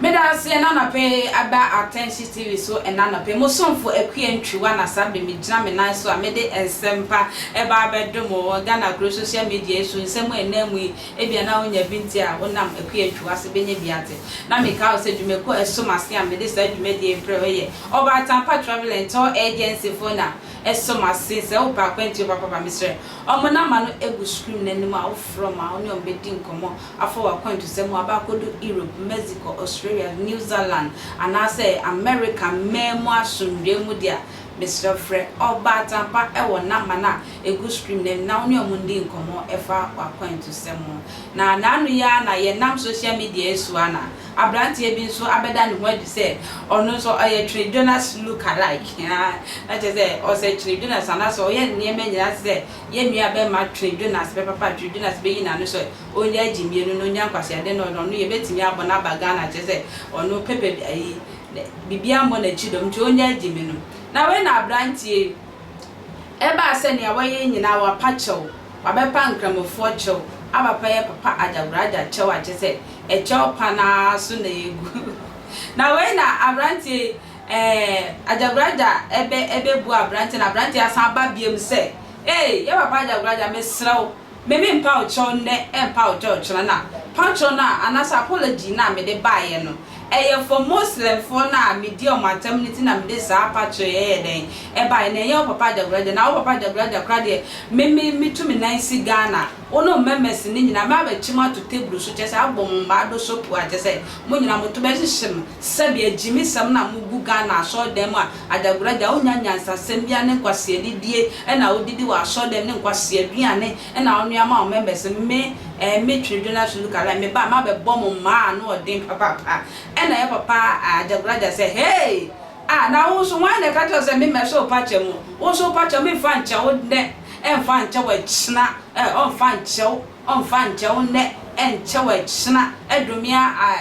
Meda ase ɛna anɔpe aba Atɛnhye TV so ɛna anɔpe. Mo somfo Akua Ntwiwa na saa bere me gyina me nan so a mede nsɛmpa ɛba abɛdom wɔ Ghana kuro social media yi so nsɛm a ɛnam mu yi Ebia na wunya bi nti a wonam akuaytwa ase benya bi ate. Ná mekae wo sɛ dwumakuo a ɛsom ase a mede saa dwumadie yi frɛ wo yɛ Ɔba Atampa Travel and Tour Agency foɔ na ɛsom ase. Sɛ wopɛ akwantuo papa ba mesrɛ wɔn namba no gu screen no anim a wofrɛ wɔn a wo ne wɔn bɛdi nkɔmmɔ afa w'akwantusɛm ho aba akɔdu Europe, Mexico, Australia, New Zealand anaasɛ America mmaa mu asomdwoeɛ mu deɛ a mesrɛ frɛ Ɔba Atampa wɔ namba no a egu scream na menna wo ne ɔmo ndi nkɔmmɔ ɛfa w'akwantusɛm ho. Na naano yi ara na yɛnam social media yi so ara na abranteɛ bi nso abɛda ne ho adi sɛ ɔno nso ɔyɛ Twene Jonas look alike aa na kyerɛ sɛ ɔsɛ Twene Jonas anaasɛ ɔyɛ nneɛma nyinaa te sɛ yɛn nua bɛrima Twene Jonas pɛpɛpɛ a Twene Jonas bɛyi n'ano sɛ ɔnnya agye mmienu na ɔnnya nkwaseade na ɔno ɔno yɛbɛtumi abɔ no aba Ghana kyerɛ sɛ ɔno pɛpɛ bi ayi biribiara mmɔ n'akyi dɔm nti ɔnnya agye me no. Na wei na abranteɛ yi. Ɛbaa sɛ nea wayɛ nyinaa, wapa kyɛw, wabɛpa Nkramofoɔ kyɛw, abapa yɛ papa Agyagoragya kyɛw a kyesɛ ɛkyɛw pa no ara so na egu. Na wei na aberanteɛ yi, ɛɛ, Agyagoragya ɛbɛ, ɛbɛbu aberanteɛ na aberanteɛ asan aba biam sɛ, Ei, yɛ papa Agyagoragya, mesrɛ wo, Me me mpaw kyɛw nnɛ mpaw kyɛw kyena na paw kyɛw no a anaasɛ apology no a mede baeɛ no ɛyɛ for Muslimfoɔ no a medi ɔmo atam no ti na mede saa pa kyɛw yi ɛyɛ dɛn ɛbaeɛ na ɛnyɛ wo papa Agyagoragya na wo papa Agyagoragya koraa deɛ me me metu me nan si Ghana wo ne wo mɛmɛs no nyinaa mɛ abɛkye mo ato table so kyɛsɛ abɔ mo mmaa do soap a kyɛsɛ mo nyinaa mo to bɛhyehye mo sɛbi agyimi sɛm na mo gu Ghana asɔre dan mu a Adagoragya, wonnya nyansasɛm biara ne nkwasea anidie na wodidi wɔ asɔrdan mu ne nkwasea aduane na wonoa ma wo members no. Me, eh, me Twene Jonas Sulu Kalai, me ba, mabɛbɔ mo mmaa ano ɔden papaapa. Ɛna ɛyɛ papa, ah, Adagoragya sɛ, Hey! Ah, na wo nso, hwan na ɛka kyerɛɛ wo sɛ memmɛhyɛ wo pakyɛ mu? Wo nso wo pakyɛ mu mfa nkyɛ wo nnɛ, ɛmfa nkyɛ wo akyina, eh, ɔmfa nkyɛ wo, ɔmfa nkyɛ wo nnɛ, ɛnkyɛ wo akyina, ɛdome a, ah,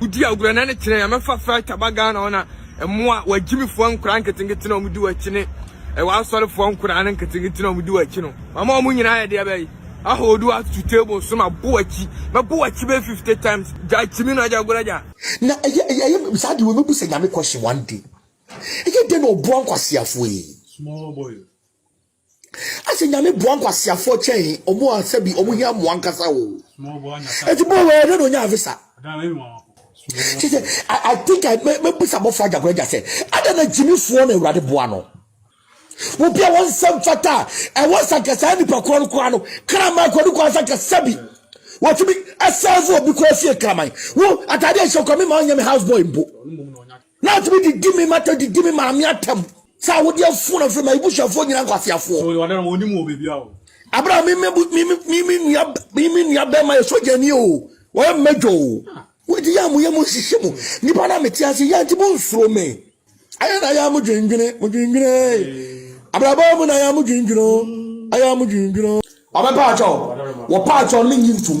Wodi agorɔ na ne kyerɛ yɛ mɛfa flight aba Ghana hɔ na mmoa w'agyimifoɔ nkwadaa nketenkete na wɔdi w'akyi ne w'asɔrefoɔ nkwadaa no nketenkete na wɔdi w'akyi no mama wɔn nyinaa yɛ deɛ bɛyi ahodo wo ato table so ma bo w'akyi mɛbo w'akyi bɛyɛ fifty times gya akyimi no agya agorɔ gya. Na ɛyɛ ɛyɛ ɛyɛ saa deɛ wei mɛbu sɛ Nyame question one day ɛyɛ dɛn na ɔboa nkwaseafoɔ yi. Small boy. Ase nyame boa nkwaseafoɔ kyɛn ɔmo a sɛbi ɔmo hia mmoa ankasa oo. Eti bɔ wɛɛ dɛ na onyaa visa. Kyɛ sɛ I I think I mɛ mɛbisa abɔfra agyakora agya sɛ adɛn na gyimifoɔ na awurade boa no. Obi a wɔnsɛ mfata a ɛwɔ sɛ anka saa nipa korɔ no koraa no kraman kɔ ne kwan sɛ anka sɛbi wɔtumi ɛsɛɛvo obi koraa fie kraman. Wo ataadeɛ a ɛhyɛ koraa me maa ɔnyɛ me house boy mpo. Na atumi didi me mata didi me maame atam sɛ awode afuo na firi ma ebusuafoɔ nyina nkwaseafoɔ. Abere a me nua bɛrima yɛ sogyani o wɔyɛ mmɛdwa o wodi yɛ a moyɛ mo nhyehyɛ mu nnipa no a mete ase yɛ nti monsuro me ayɛ na ayɛ a modwendwene modwendwene abrabɔ mu na ayɛ a modwendwene ayɛ a modwendwene ɔbɛpaakyɛw wɔpaakyɛw no menyi ntom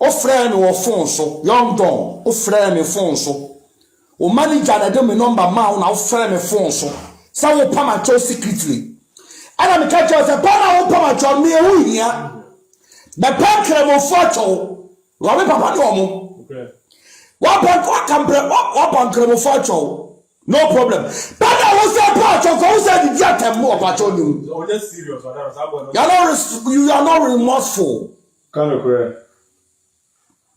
Wofrɛɛ me wɔ fon so. Young Don, wofrɛɛ me fon so. Wo manager na ɛde me nɔmba maa wo na wofrɛɛ me fon so sɛ worepam akyɛw secretly. Ɛna meka kyerɛɛ wo sɛ bɛn na worepam akyɛw, nea ɛho hia. Bɛpɛ Nkramofo akyɛw. Wura me papa ne wɔn. Waba waka mprɛ waba Nkramofo akyɛw. No problem. Bɛn na wo sɛ pa akyɛw kɔ wo sɛ didi atɛm mu ɔpakyɛw ne mu. You are not remorseful. Ka nokorɛ.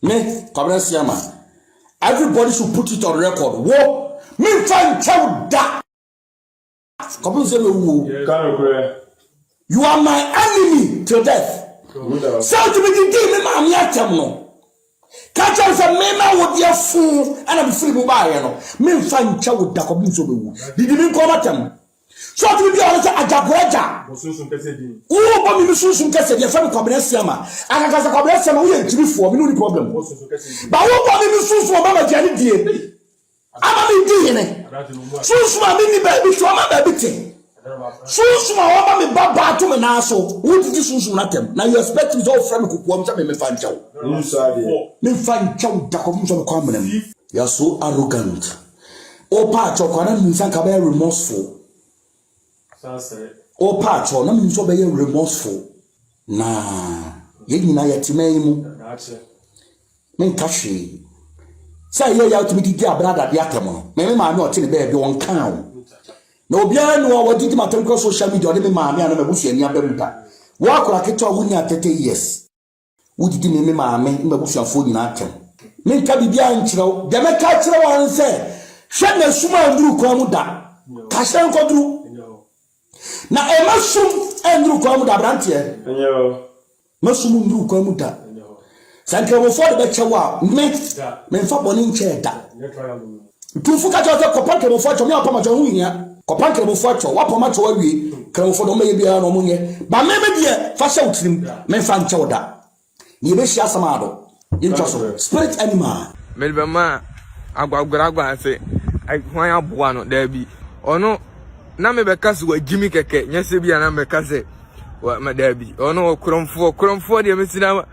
Me, Kwabena Siama, everybody should put it on record, wo, menfa nkyɛ wo da! Kɔpem sɛ mɛwu o. Ka nokorɛ. You are my enemy till death. Sɛ wotumi didii me maame atɛm no, ka kyerɛ no sɛ me na wo deɛ foo ɛna mefiri mu baeɛ no, menfa nkyɛ wo da kɔpem sɛ wobɛwu. Didi me nkoa m'atɛm. So ɔtumi bia ɔno sɛ agyagoagya. Bɔ sunsum kɛseɛ din. Woo bɔ mimi sunsum kɛseɛ din ɛfɛ no kwabena siama. Akaka sɛ kwabena siama woyɛ ntimi foɔ mene woni problem. Bɔ sunsum kɛseɛ din. Ba woo bɔ mimi sunsum ɔma ma aduane die. Ama me di hene. Sunsum a me ni baabi te ɔma baabi te. Sunsum a ɔma me ba baa to me nan so. Wo didi sunsum na tɛm. Na you expect me sɛ wo frɛ me kukuam sɛ me me fa nkyɛw. Me fa nkyɛw da kɔfom sɛ me kɔ amena mu. You are so arrogant. O paakyɛw kwa na minim sɛ anka bɛyɛ remorseful. O paakyɛw na minim sɛ ɔbɛyɛ remorseful. Na yɛn nyinaa yɛte man yi mu. Menka hwee. Sɛ ɛyɛ yɛ atumi didi abradade atɛm no, me me maame ɔte ne baabi ɔnkaa o. Na obiara ni wɔ wɔdidi ma atɛm kura social media ɔne me maame a na m'abusuani aba mu da. Wo akora ketewa wo ni atɛtɛ years. Wogyidi me me maame ne m'abusuafoɔ nyinaa atɛm. Menka biribiara nkyerɛ wo. Deɛ mɛka akyerɛ wo ara ne sɛ, hwɛ na sum annuru kwan mu da. Ka hyɛn kɔduru. Na ɛma sum nnuru kwan mu da, aberanteɛ. Ma sum nnuru kwan mu da. Sɛ nkramofoɔ de bɛkyɛ wo a, me, memfa bɔne nkyɛɛ da. Tumfo ka kyerɛ wo sɛ, Kɔpa Nkramofo akyɛw, me a wɔapam akyɛw, ɛho nhia. Kɔpa Nkramofo akyɛw, wɔapam akyɛw awie, Nkramofo de wɔmmɛyɛ biara na wɔnyɛ, ba me, me deɛ, fa hyɛ wo tirim, memfa nkyɛ wo da. Na yɛbɛhyia asɛm a ado. Yɛntwa so. Spirit animal. Mede bɛma agwaguaragua ase, hwan aboa no? Daabi. Ɔno, na mebɛka sɛ wagyi me kɛkɛ, nyɛ sɛ bi a na mɛka sɛ, daabi, ɔno ɔkorɔmfoɔ, korɔmfoɔ deɛ mesi no ama.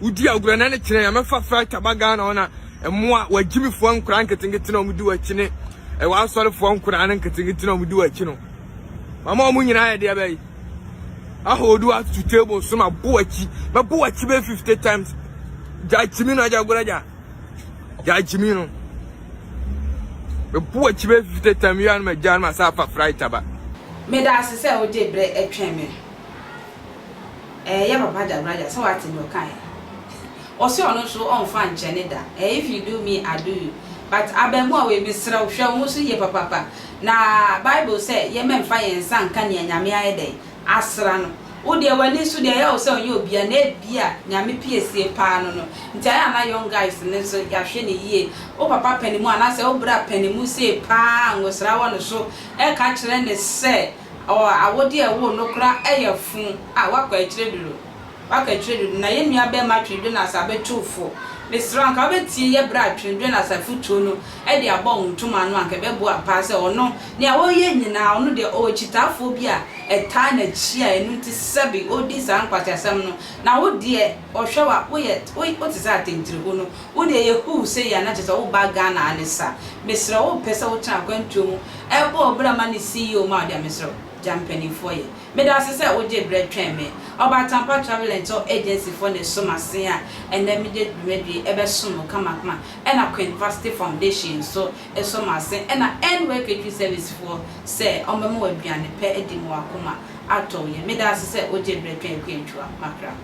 Wodi agorɔ na ne kyerɛ yɛ mɛfa flight aba Ghana hɔ na mmoa w'agyimifoɔ nkoraa nketenkete na wɔdi w'akyi ne ɛwɔ asɔrefoɔ nkoraa no nketenkete na wɔdi w'akyi no mama wɔn nyinaa yɛ deɛ bɛyi ahodo ato table so ma bo akyi ma bo akyi bɛ fifty times gya akyimi no agya agorɔ agya gya akyimi no ma bo akyi bɛ fifty times yɛ anoma gya anoma saa afa flight aba. Meda ase sɛ wode berɛ twɛn me. Eh yɛ papa Jabraja sɛ wate nea ɔkae Ɔse ɔno nso ɔmfa nkyɛ ne da Eh if you do me I do you But abɛɛmoa wei mesrɛ wo hwɛ wo ho so yie papapa Na bible sɛ yɛmɛ mfa yɛn nsa nka nea Nyame ayɛ dɛn asra no Wo deɛ w'ani so deɛ ɛyɛ wo sɛ ɔnyɛ obia na ebia Nyame piesie paa no no Nti ayɛ a na young guys no nso yɛahwɛ no yie Wo papa panimu anaasɛ wo bra panimu sei paa ngosra wɔ ne so ɛka kyerɛ ne sɛ Ɔwɔ awode a ɛwoo no koraa ɛyɛ fo a wakɔ akyire dodo wakɔ akyire dodo na yɛn nua bɛɛma Twene Jonas abɛtoo fo mesrɛ wo anka wobɛtie yɛ berɛ a Twene Jonas afotuo no ɛde abɔ wo ntoma ano anka ɛbɛboa paa sɛ ɔno nea ɔyɛ nyinaa ɔno deɛ ɔwɔ kyitaafoɔ bi a ɛtaa n'akyi a ɛno nti sɛbe ɔdi saa nkwaseasɛm no na wo deɛ ɔhwɛ wo a woyɛ wo te sɛ atɛntire ho no Wo deɛ yɛhuw sɛ yɛn na kyerɛ sɛ woba Ghana ara ne sa. Mesrɛ wo mpɛ sɛ wotena akwantuo mu bɔ wo bra ma ne CEO ma wo deɛ a mesrɛ wo gya mpaninfoɔ yɛ. Meda ase sɛ wogye berɛ twɛn me. Ɔbaa Tampah Travel and Tour Agency foɔ na ɛso m'asen a ɛnnɛ megye dwumadie yi bɛsom wo kamakama ɛna Queen Vasti Foundation nso so m'asen ɛna NWER Catering Service foɔ sɛ wɔbɛma wo aduane pɛ adi ma w'akoma atɔ wo yam. Meda ase sɛ wogye berɛ twɛn Akwantuwa Mackra.